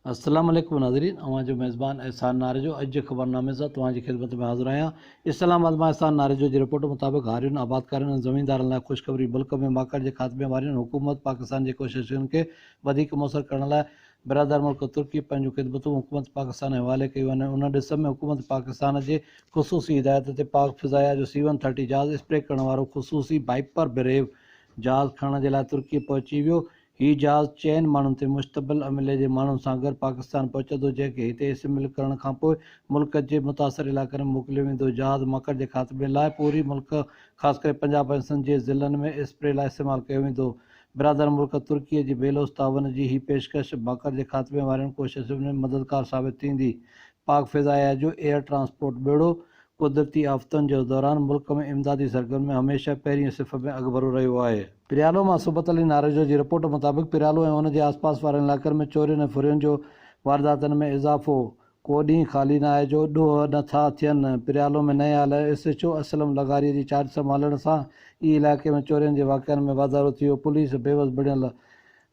السلام عليڪم ناظرين اوهان جو ميزبان احسان ناريجو اڄ جي خبرنامي سان توهان جي خدمت ۾ حاضر آهيان اسلام آباد مان احسان ناريجو جي رپورٽ مطابق هارين آبادڪارن ۽ زميندارن لاء خوشخبري ملڪ ۾ ماڪڙ جي خاتمي وارين حڪومت پاڪستان جي ڪوششن کي وڌيڪ موثر ڪرڻ لاء برادر ملڪ ترڪي پنهنجون خدمتون حڪومت پاڪستان حوالي ڪيون آهن ان ڏس ۾ حڪومت پاڪستان جي خصوصي هدايت تي پاڪ فضايا جو سي ون ٿرٽي جهاز اسپري ڪرڻ وارو خصوصي بائپر بريو جهاز کڻڻ جي لاء ترڪي پهچي ويو هي جهاز چئن ماڻهن تي مشتبل عملي جي ماڻهن سان گڏ پاڪستان پهچندو جنهن کي هتي اسيمبل ڪرڻ کانپوء ملڪ جي متاثر علائقن ۾ موڪليو ويندو. جهاز مڪڙ جي خاتمي لاء پوري ملڪ خاص ڪري پنجاب ۽ سنڌ جي ضلعن ۾ اسپري لاء استعمال ڪيو ويندو. برادر ملڪ ترڪي جي بيلوس تعاون جي هي پيشڪش مڪڙ جي خاتمي وارين ڪوششن ۾ مددگار ثابت ٿيندي. پاڪ فضائيه جو ايئر ٽرانسپورٽ ٻيڙو قدرتي آفتن جي دوران ملڪ ۾ امدادي سرگرمين ۾ هميشه پهرينء صف ۾ اڳڀرو رهيو آهي. پريالو مان سبط علي ناريجو جي رپورٽ مطابق پريالو ۽ ان جي آسپاس وارن علائقن ۾ چورين ۽ ڦرين جو وارداتن ۾ اضافو، ڪو ڏينهن خالي نه آهي جو ڏوهه نه ٿا ٿين، پريالو ۾ نئين آيل ايس ايڇ او اسلم لغاري جي چارج سنڀالڻ سان ئي علائقي ۾ چورين جي واقعن ۾ واڌارو ٿي ويو، پوليس بيوس بڻيل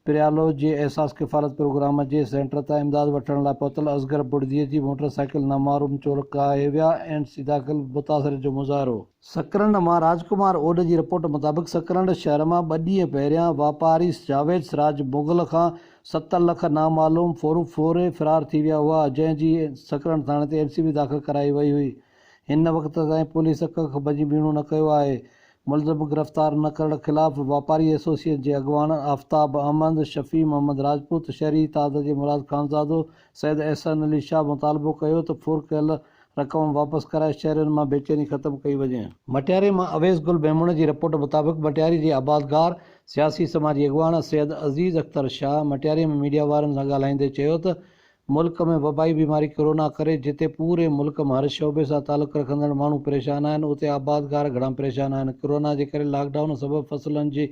پريالو جي احساس ڪفالت پروگرام جي سينٽر تان امداد وٺڻ لاء پهتل اصغر بڙدي جي موٽر سائيڪل نامعروم چور ڪاهي ويا اينڊ سيداخل متاثرين جو مظاهرو. سڪرنڊ مان راج ڪمار اوڏ جي رپورٽ مطابق سڪرنڊ شهر مان ٻه ڏينهن پهريان واپاري جاويد سراج مغل کان ست لک نامعلوم ڦورڦوري فرار ٿي ويا هئا جنهن جي سڪرنڊ ٿاڻي تي اين سي بي داخل ڪرائي وئي هئي هن وقت تائين پوليس ڪک به ٻيڻو نه ڪيو آهي. ملزم گرفتار نه ڪرڻ خلاف واپاري ايسوسيئن جي اڳواڻ آفتاب احمد، شفيع محمد راجپوت، شهري اتحاد جي مراد خانزادو، سيد احسن علي شاهه مطالبو ڪيو ته ڦر ڪيل رقم واپس ڪرائي شهرين مان بيچيني ختم ڪئي وڃي. مٽياري مان اويس گل ميمڻ جي رپورٽ مطابق مٽياري جي آبادگار، سياسي سماجي اڳواڻ سيد عزيز اختر شاهه مٽياري ۾ ميڊيا وارن سان ڳالهائيندي چيو ته ملڪ ۾ وبائي بيماري ڪرونا ڪري جتي پوري ملڪ ۾ هر شعبي سان تعلق رکندڙ ماڻهو پريشان آهن اتي آبادگار گهڻا پريشان آهن ڪرونا جي ڪري لاڪ ڊائون سبب فصلن جي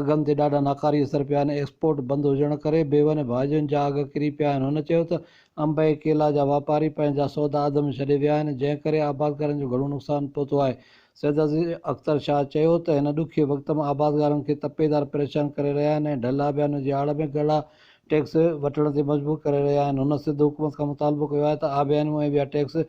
اگهن تي ڏاڍا ناڪاري اثر پيا آهن ايڪسپورٽ بند هجڻ ڪري ميون ۽ ڀاڄين جا اگهه ڪري پيا آهن هن چيو ته انب ۽ ڪيلا جا واپاري پنهنجا سودا اڌ ۾ ڇڏي ويا آهن جنهن ڪري آبادگارن جو گهڻو نقصان پهتو آهي سيدعزيز اختر شاهه چيو ته هن ڏکئي وقت ۾ آبادگارن کي تپيدار پريشان ڪري رهيا آهن ۽ ڍل آبيان جي آڙ ۾ ڳڙها ٽيڪس وٺڻ تي مجبور ڪري رهيا آهن هن سنڌ حڪومت کان مطالبو ڪيو آهي ته آبيانيون ۽ ٻيا ٽيڪس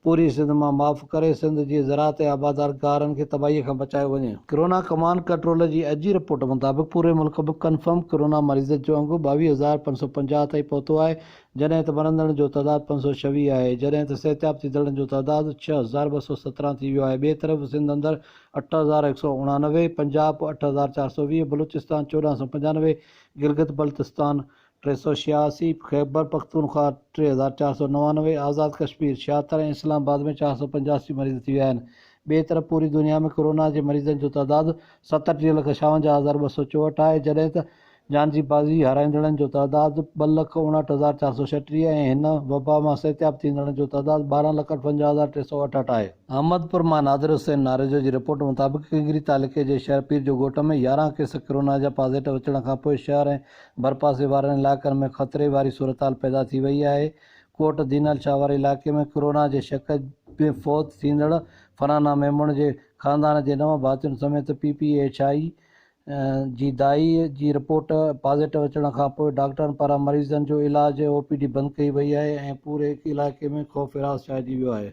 پوري سنڌ مان معاف ڪري سنڌ جي زراعت ۽ آبادار گارن کي تباهي کان بچايو وڃي. ڪرونا ڪمانڊ ڪنٽرول جي اڄ جي رپورٽ مطابق پوري ملڪ ۾ ڪنفرم ڪرونا مريضن جو انگ ٻاويهه هزار پنج سؤ پنجاهه تائين پهتو آهي جڏهن ته مرندڙن جو تعداد پنج سؤ ڇويهه آهي جڏهن ته صحتياب ٿيندڙن جو تعداد ڇهه هزار ٻه سؤ سترهن ٿي ويو آهي ٻئي طرف سنڌ اندر اٺ هزار هڪ سؤ اڻانوي پنجاب اٺ هزار چار سؤ ويهه بلوچستان چوڏهن سؤ پنجانوي گلگت بلتستان ٽي سؤ ڇهياسي، خيبرپختونخوا ٽي هزار چار سؤ نوانوي، آزاد ڪشمير ڇهاتر ۽ اسلام آباد ۾ چار سؤ پنجاسي مريض ٿي ويا آهن. ٻئي طرف پوري دنيا ۾ ڪورونا جي مريضن جو تعداد ستٽيهه لک ڇاونجاهه هزار ٻه سؤ چوهٺ آهي جڏهن ته جان جي بازي هارائيندڙن جو تعداد ٻه لک اڻهٺ هزار چار سؤ ڇٽيهه ۽ هن وبا مان صحتياب ٿيندڙن جو تعداد ٻارهن لک اٺونجاهه هزار ٽي سؤ اٺهٺ آهي. احمدپور مان نادر حسين ناريجو جي رپورٽ مطابق ڪينگري تعلقي جي شهر پير جو ڳوٺ ۾ يارهن ڪيس ڪرونا جا پازيٽو اچڻ کانپوء شهر ۽ ڀرپاسي وارن علائقن ۾ خطري واري صورتحال پيدا ٿي وئي آهي ڪوٽ دينال شاهه واري علائقي ۾ ڪرونا جي شڪ ۾ فوت ٿيندڙ فرحانا ميمڻ جي خاندان جي نو ڀاتين سميت پي پي ايڇ آء جي دائي جي رپورٽ پازيٽو اچڻ کانپوء ڊاڪٽرن پاران مريضن جو علاج او پي ڊي بند ڪئي وئي آهي ۽ پوري علائقي ۾ خوف هراس ڇائجي ويو آهي.